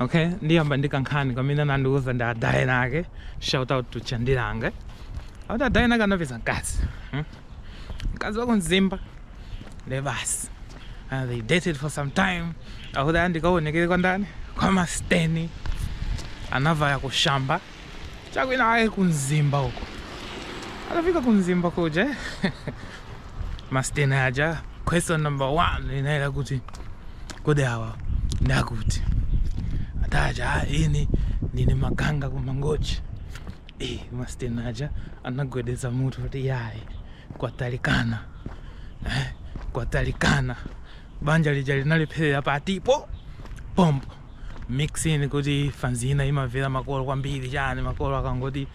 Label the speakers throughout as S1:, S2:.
S1: Okay, ndiyamba ndi kankhani kamene anandiuza ndi adayena ake. Shout out to Chandilange. Akuti adayena ake anapeza mkazi. Hmm? Mkazi wa ku Mzimba. Nde basi. And they dated for some time. Akuti ndikaonekere kwa ndani? Kwa masteni. Anavaya kushamba. chakwina ake ku mzimba uko atafika ku mzimba kuja masteni aja question number one inayera kuti kodi awa ndakuti ataja "Ah, ine ndine wakanga ku mangochi Eh, masteni aja anagwedeza mutu kuti yayi kwatalikana eh, kwatalikana banja lija linalepherera pati pompo mix in kuti fanzi ina imamvera makolo kwambiri chani makolo akangoti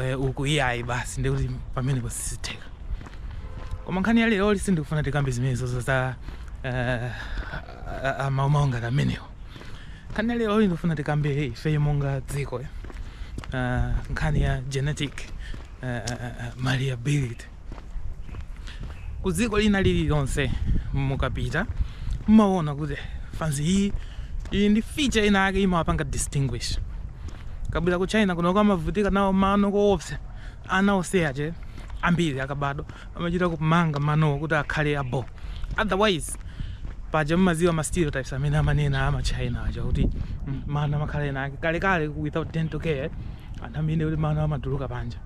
S1: eh, uku iyayi basi ndi kuti pamenepo sizitheka koma nkhani ya leroyi sindikufuna tikambe zimenezozo za eh, a- a- maumawo ngati amenewo nkhani ya leroyi ndikufuna tikambe ifeyo monga dziko eh, nkhani ya genetic eh, eh, eh, malleability ku dziko lina lililonse mukapita mmaona kuti fanzi iyi iyi ndi feature ina yake imawapanga distinguish mukabwera ku china kunoko amavutika nawo mano koopsa ana ochepa ambiri akabadwa amachita kumanga manowo kuti akhale abo otherwise paja mmaziwa ma stereotypes amene amanena ama china aja kuti mm, mano amakhala ena ake kalekale without dental care anthu amene kuti mano amatulukira panja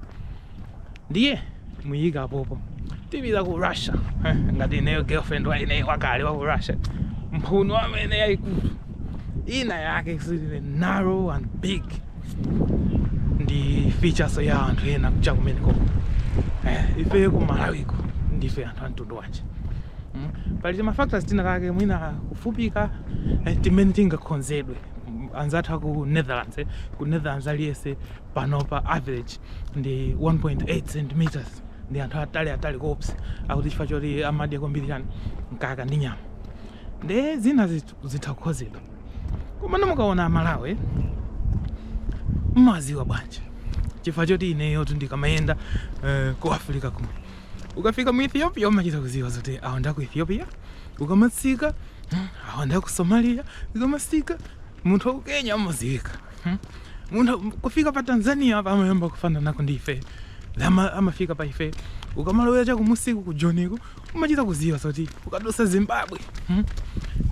S1: ndiye muika apopo tipita ku russia eh, ngati ineyo girlfriend wa ineyo wakale wa ku russia mphuno amene yaikulu ina yake is narrow and big ndi features ya anthu ena aku cha kumeneko eh, ife ku malawiko ndife anthu amtundu wanji Mm. pali tima factors tinatake mwina kufupika eh, timene tingakhonzedwe Mm, anzathu aku netherlands eh. ku netherlands aliyense panopa average ndi 1.8 centimeters ndi anthu atali atali koopsa akuti chifukwa choti amadya kwambiri chani mkaka ndi nyama ndi zina zit- zitha kukhonzedwa koma mukaona amalawi mmaziwa bwanji chifukwa choti ineyo tindikamayenda eh, ku africa kuno ukafika mu ethiopia umachita kuziwa zoti awa ndaku ethiopia ukamatsika mm, awa ndaku somalia ukamatsika munthu wa ku kenya amaziwika Hmm? Munthu, kufika pa Tanzania apa amayamba kufananako ndi ife. Lama amafika pa ife. Ukamalowera cha kumusi uku ku Joniku umachita kuziwa zoti ukadutsa Zimbabwe. Hmm?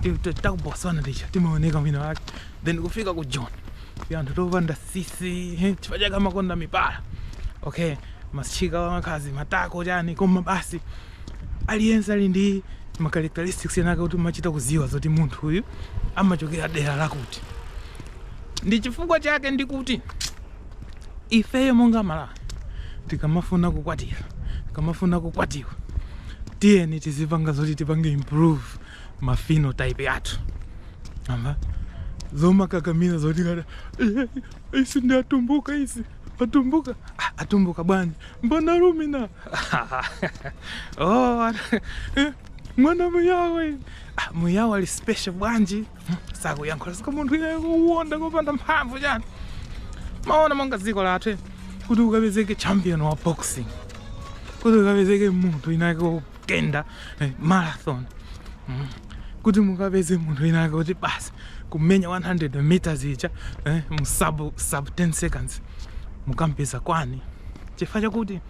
S1: Ti- ti- Ta ku Botswana ticha timaoneka mwina wake. Then kufika ku Joni. Anthu topanda tsitsi, he, chifukwa chake amakonda mipala. Okay, atsikana amakhala matako chani koma basi Aliyense ali ndi ma characteristics ena ake oti umachita kudziwa zoti munthu uyu amachokera dera lakuti. Ndi chifukwa chake ndikuti ifeyo monga Amalawi tikamafuna kukwatira, tikamafuna kukwatiwa, tiyeni tizipanga zoti tipange improve ma phenotype athu. Amva? Zomakakamira zoti ngati "Eh, ife ndi atumbuka isi. Atumbuka, ah, atumbuka bwanji? Mbona Lumina? oh, eh, mwana Muyawo. Ah, Muyawo ali special bwanji? Hmm, Sakuyankhula sika munthu iye kuwonda kopanda mphamvu chani. Mwaona monga dziko lathu eh, kuti ukapezeke champion wa boxing. Kuti ukapezeke munthu winake kuyenda eh, marathon mm. kuti mukapeze munthu winake woti basi kumenya 100 meters ija eh, mu sub, sub 10 seconds mukampeza kuti chifukwa chakuti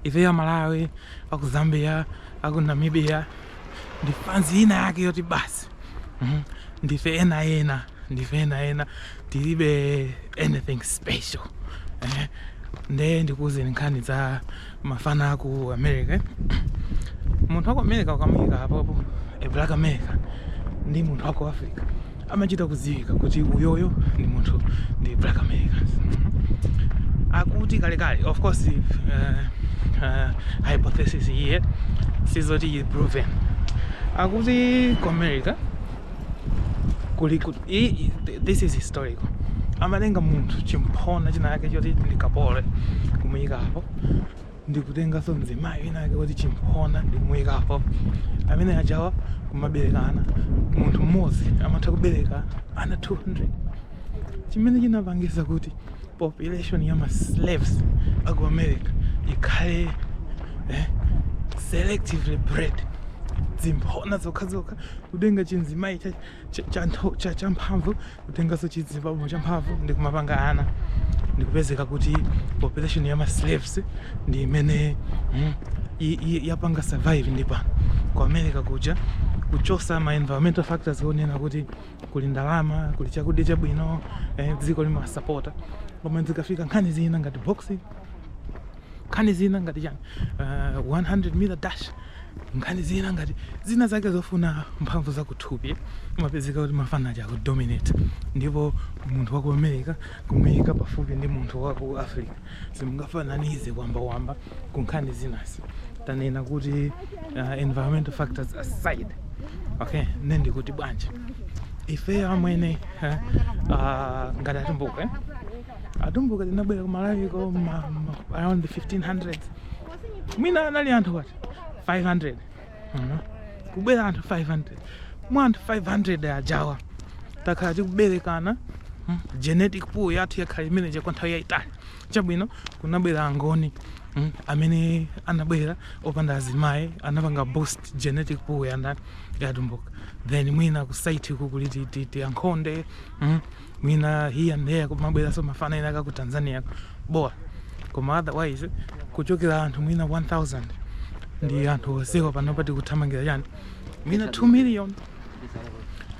S1: ife amalawi aku zambia aku namibia ndi fans ina yake yoti basi mm. ndife ena ena ndife ena ena tilibe anything special eh, nde ndikuuzeni nkhani za mafana aku america munthu waku america ukamuyika apopo black america ndi munthu waku africa amachita kudziwika kuti uyoyo ndi munthu ndi black americans akuti kalekale of course uh, uh, hypothesis iyi sizoti proven akuti ku america kuli ku- i- i- th- this is historical amatenga munthu chimphona china yake choti ndi kapolo kumuyikapo ndikutenganso mzimayi wina wake woti chimphona ndikumuyikapo amene ajawa kumaberekana munthu mmodzi amatha kubereka ana 200 chimene chinapangisa kuti population ya ma slaves aku america ikhale eh, selectively bred zimphona zokhazokha kutenga chinzimayi champhamvu kutenganso chizibambo champhamvu ndi kumapanga ana ndikupezeka kuti population ya maslaves ndi imene mm, yapanga survive mpaka pano ku america kuja kuchosa ma environmental factors onena kuti kuli ndalama kuli chakudya chabwino eh, dziko limasapota koma zikafika nkhani zina ngati boxing nkhani zina ngati chani uh, eh, 100 meter dash nkhani zina ngati zina zake zofuna mphamvu zakuthupi umapezeka kuti mafana aja akudominate ndipo munthu wa ku america kumuyika pafupi ndi munthu wa ku africa simungafananize kuyambayamba ku nkhani zinazi tanena kuti uh, environmental factors aside okay nde ndikuti bwanji ifeyo amwene uh, ngati atumbuka eh? atumbuka tinabwera ku malawi ko ma- ma- around the 1500 mwina anali anthu what 500 Mhm. kubwera anthu 500 mwa anthu 500 ajawa takhala tikuberekana mm, genetic pool yathu yakhala imeneja kwa nthawi yayitali chabwino kunabwera angoni mm, amene anabwera opanda azimayi anapanga boost genetic pool yandani yatumbuka then mwina kusaiti kuli ti ankhonde mm, mwina here and there kumabweranso mafana ena kaku tanzania bola koma otherwise kuchokera anthu mwina 1000 ndi anthu onsewa panopa tikuthamangira chani mwina 2 million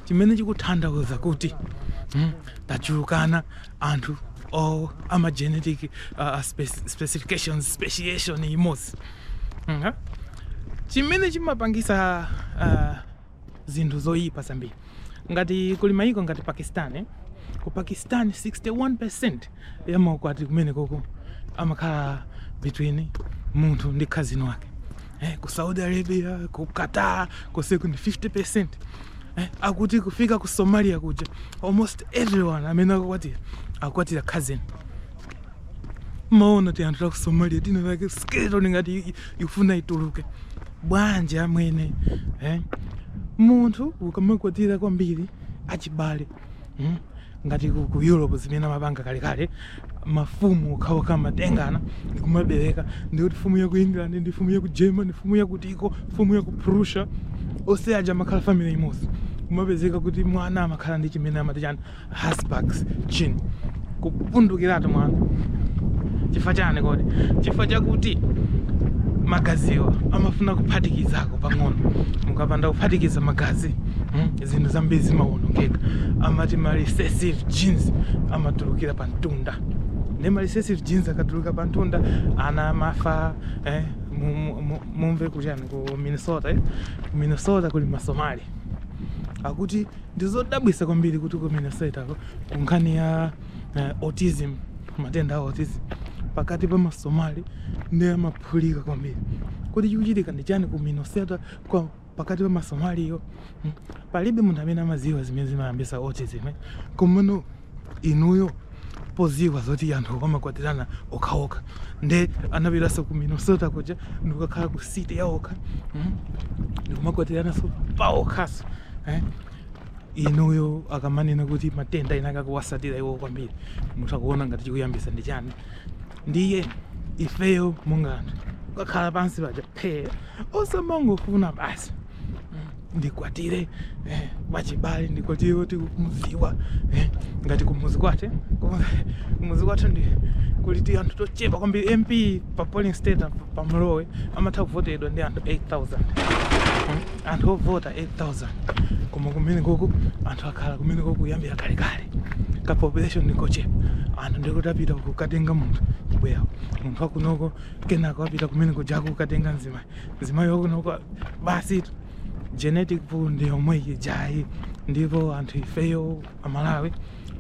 S1: chimene chikutanthauza kuti mm, tachulukana anthu o ama genetic uh, spe specifications speciation imodzi mm -hmm. chimene chimapangisa uh, zinthu zoyipa zambiri ngati kuli mayiko ngati pakistan eh? ku pakistan 61% ya maukwati kumene koko amakhala between munthu ndi khazini wake eh? ku saudi arabia ku qatar konseku ndi 50% eh? akuti kufika ku somalia kuja almost everyone amene akukwatira akukwatira khazini maona ti anthu taku somalia tina like skeleton ngati ikufuna ituluke bwanji amwene eh? munthu ukamakwatira kwambiri achibale hmm? ngati ku, ku europe zimene amapanga kalekale mafumu okhaokha amatengana ndikumabereka ndikuti fumu ya ku england ndi fumu ya ku germany fumu ya kutiko fumu ya ku prussia onse aja amakhala family imodzi kumapezeka kuti mwana amakhala ndi chimene amati chani habsburg chin kupundukiratu mwana chifukwa chani kodi chifukwa chakuti magaziwa amafuna kuphatikizako pang'ono mukapanda kuphatikiza magazi mm, zinthu zambiri zimawonongeka amati ma recessive genes amatulukira pa mtunda nde ma recessive genes akatuluka pa mtunda ana amafa eh, mu- mu- mu- mumve kuchani ku minnesota eh? ku minnesota kuli masomali akuti Ndizodabwisa kwambiri kuti ku Minnesota ko kunkhani ya uh, autism matenda a autism pakati pa masomali ndi amaphulika kwambiri kuti chikuchitika ndi chani ku Minnesota kwa pakati pa masomaliyo hmm? palibe munthu amene amadziwa zimene zimayambisa autism eh? komano inuyo poziwa zoti anthu amakwatirana okhaokha nde anapiranso ku minnesota kuja ndikukakhala ku city yaokha mm? ndikumakwatiranaso paokhaso eh? inuyo akamanena kuti matenda ena akakuwasatira iwo kwambiri mutha kuona ngati chikuyambisa ndi chani ndiye ifeyo monga anthu kukakhala pansi paja phee osamangofuna basi ndikwatire eh, wachibale ndikwatire kuti kumziwa eh, ngati kumuzi kwathu eh. Koma kumuzi kwathu ndi kuliti anthu tochepa kwambiri mp pa polling state apa pa Malawi amatha kuvotedwa ndi anthu 8000 Mm, anthu ovota 8000 koma kumene koko anthu akhala kumene koko kuyambira kalekale ka population ndikochepa anthu ndikuti apita kukatenga munthu kubwera munthu akunoko kenako apita kumene kujako kukatenga mzimayi mzimayi wakunoko basi genetic pool ndi yomwe ijayi ndipo anthu ifeyo amalawi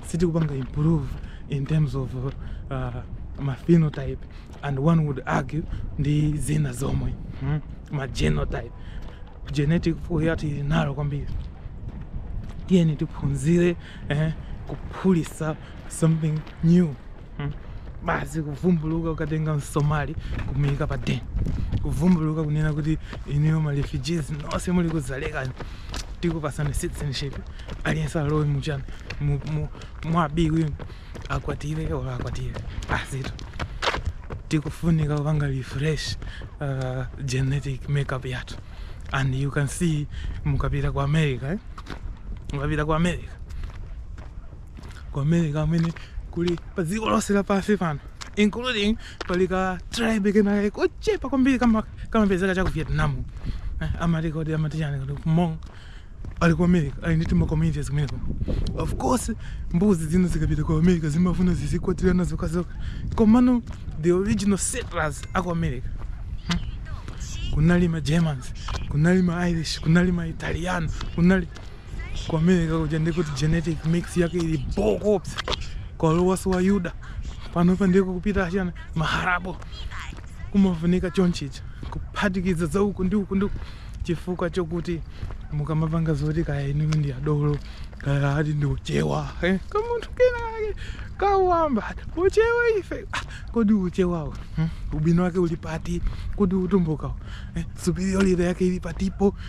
S1: sitikupanga improve in terms of uh, ma phenotype and one would argue ndi zina zomwe hmm? ma genotype genetic pool yathu ili narrow kwambiri tiyeni tiphunzire eh, kuphulisa something new Hmm. basi kuvumbuluka ukatenga msomali kumuyika pa deni kuvumbuluka kunena kuti inuyo ma refugees nonse muli ku Dzaleka tikupasani citizenship aliyense alowe muchani mu- mu- mwa Abwiwi akwatire olo akwatire basitu tikufunika kupanga refresh uh, genetic makeup yathu and you can see mukapita ku america eh? mukapita ku america ku america amene kuli pa dziko lonse lapansi pano including pali ka tribe kenake kochepa kwambiri kama- kamapezeka cha ku vietnam Eh, amati kodi amati chani kodi Hmong ali ku america ali ndi tima communities kumeneko of course mbuzi zina zikapita ku america zimafuna zizikwatirana zokazoka komano the original settlers aku america kunali ma germans kunali ma irish kunali ma italians kunali ku america kuja ndikuti genetic mix yake ili bho kopsa kwalowaso Ayuda panopa ndiye kukupita achina ma Arab kumafunika chonchicha kuphatikiza za uku ndi uku ndi uku chifukwa chokuti mukamapanga zoti kaya inu ndi adolo kaya ati ndi uchewa eh, kamunthu kenake kayamba uchewa ife ah, kodi uchewawo hmm? ubwino wake uli pati kodi utumbukawo eh, superiority yake ili patipo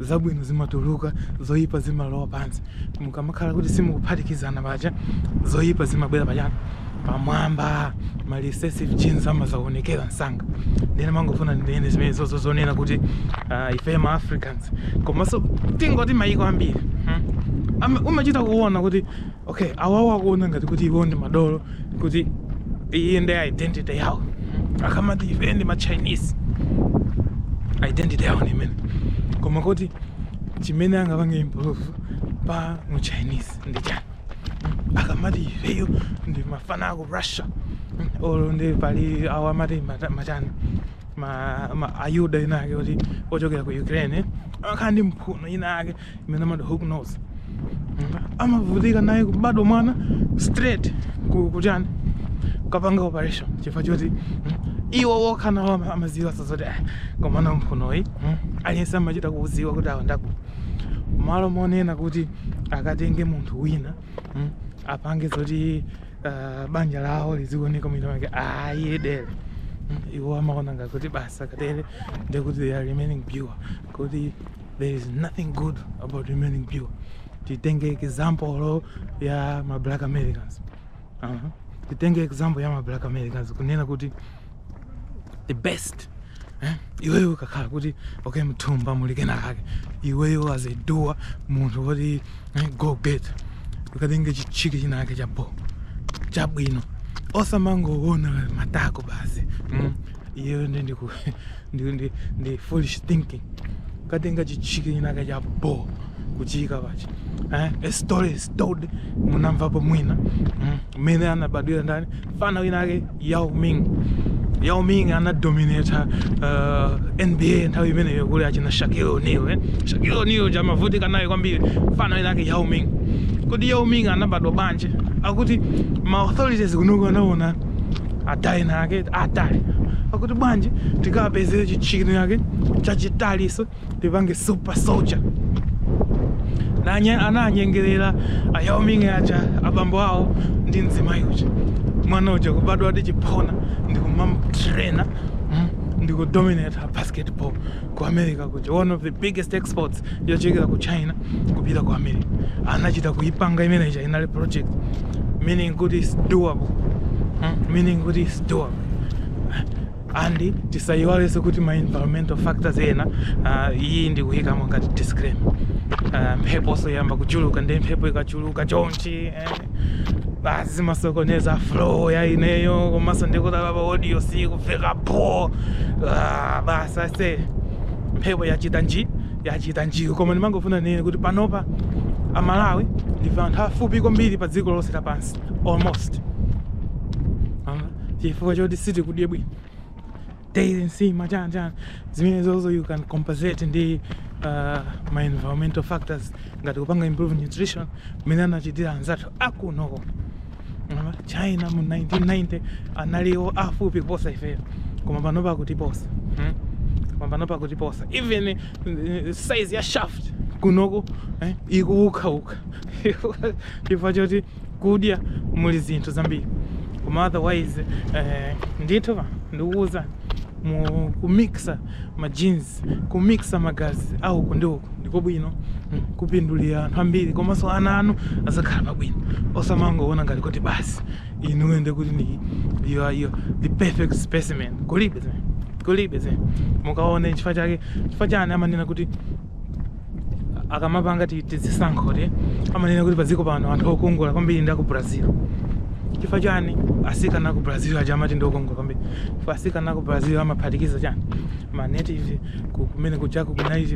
S1: zabwino zimatuluka zoyipa zimalowa pansi mukamakhala kuti simukuphatikizana paja zoyipa zimabwera pachani pamwamba ma recessive genes amazaonekera msanga ndiye ndimangofuna ndinene zimenezozo zonena kuti uh, ife ma africans komanso tingoti mayiko ambiri hmm? Ama- umachita kuona kuti Okay, awawa akuona ngati kuti iwo ndi madolo kuti iyi ndi identity yawo akamati ife ndi ma chinese identity yawo ndi imeneyo koma kuti chimene angapange improve pa mu chinese ndi chani akamati ifeyo ndi mafana aku russia olo ndi pali awo amati mata- machani ma, ma ayuda ina ake kuti ochokera ku ukraine akhala ndi mphuno ina ake imene amati hook nose amavutika nayo kubadwa mwana straight ku- kuchani kapanga operation chifukwa choti mm, iwo wokha nawo ama- amaziwa zoti "Ah, koma mphunoyi mm, aliyense amachita kuziwa kuti awa ndaku malo monena kuti akatenge munthu wina mm, apange zoti ah, banja lawo lizioneka mwina wake ayedere iwo amaona ngakuti bas akatele ndekuti they are remaining pure kuti there is nothing good about remaining pure titenge example ya ma black americans uh -huh. titenge example ya ma black americans kunena kuti the best eh? iweyo ukakhala kuti okay mthumba muli kenakake iweyo as a doer munthu woti eh, go get ukatenge chitchick chinake cha bo chabwino osamangoona matako basi mm. iyeyo ndi ndi ndi, ndi, ndi foolish thinking ukatenga chitchick chinake cha bo kuchiyika pachi eh? a story is told munamvapo mwina mm. mmene anabadwira ndani mfana wina ake Yao Ming Yao Ming anadominata uh, NBA nthawi imeneyo kuli achina Shaquille O'Neal eh? Shaquille O'Neal uja amavutika naye kwambiri mfana wina ake Yao Ming kodi Yao Ming anabadwa bwanji akuti ma authorities kunoku anaona atali ina ake atali akuti bwanji tikapezere chitchick ina ake chachitaliso tipange super soldier ndiye ananyengerera a Yao Ming aja abambo awo ndi mzimayi uja mwana uja kubadwa ndi chiphona ndikumamutraina mm, ndikudominata basketball ku america kuja one of the biggest exports yochokera ku china kupita ku america anachita kuipanga imene ija inali project meaning kuti it's doable hmm? meaning kuti it's doable and tisayiwalese kuti ma environmental factors ena uh, iyi ndikuyikamo ngati disclaimer uh, mpheponso yayamba kuchuluka ndi mphepo ikachuluka chonchi basi zimasokoneza flow ya ineyo komanso ndikudabwa audio sikumveka bho ah, basi ase mphepo yachita nji yachita njiyo koma ndimangofuna ninene kuti panopa amalawi ndife anthu afupi kwambiri pa dziko lonse lapansi almost Ah, chifukwa choti sitikudye bwino daily nsima chani chani zimene zozo you can compensate ndi uh, ma environmental factors ngati kupanga improve nutrition mmene anachitira anzathu akunoko China mu 1990 analiwo afupi kuposa ifeyo koma panopa akutiposa hmm? koma panopa akutiposa even eh, size ya shaft kunoko eh, ikuwukawuka chifukwa choti kudya muli zinthu zambiri koma otherwise eh, ndithu pa ndikuwuzani mu kumixa ma genes kumixa magazi a uku ndi uku ndiko bwino mm, kumapindulira anthu ambiri komanso ana anu azakhala pabwino osamangoona ngati kuti basi inuyo ndi kuti you are you are the perfect specimen kulibe zimene kulibe zimene mukaone chifukwa chake chifukwa chani amanena kuti akamapanga ti- tizisankho ti amanena kuti padziko pano anthu okongola kwambiri ndi aku brazil chifukwa chani asikana aku brazil aja amati ndi okongola kwambiri chifukwa asikana aku brazil amaphatikiza chani ma native ku- kumene kujaku kunali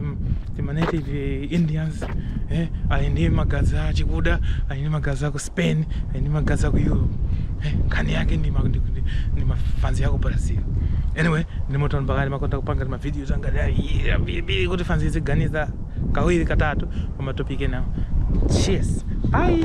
S1: ti ma native indians eh, ali ndi magazi a chikuda ali ndi magazi aku spain ali ndi magazi aku europe eh, nkhani yake ndi ma- ndi- ndi- ndi mafanzi aku brazil anyway ndimati nane pakati ndimakonda kupanga ndi ma- Videos angati ambiri kuti fanzi iziganiza kawiri katatu kwa ma topic enawo. Cheers. Bye.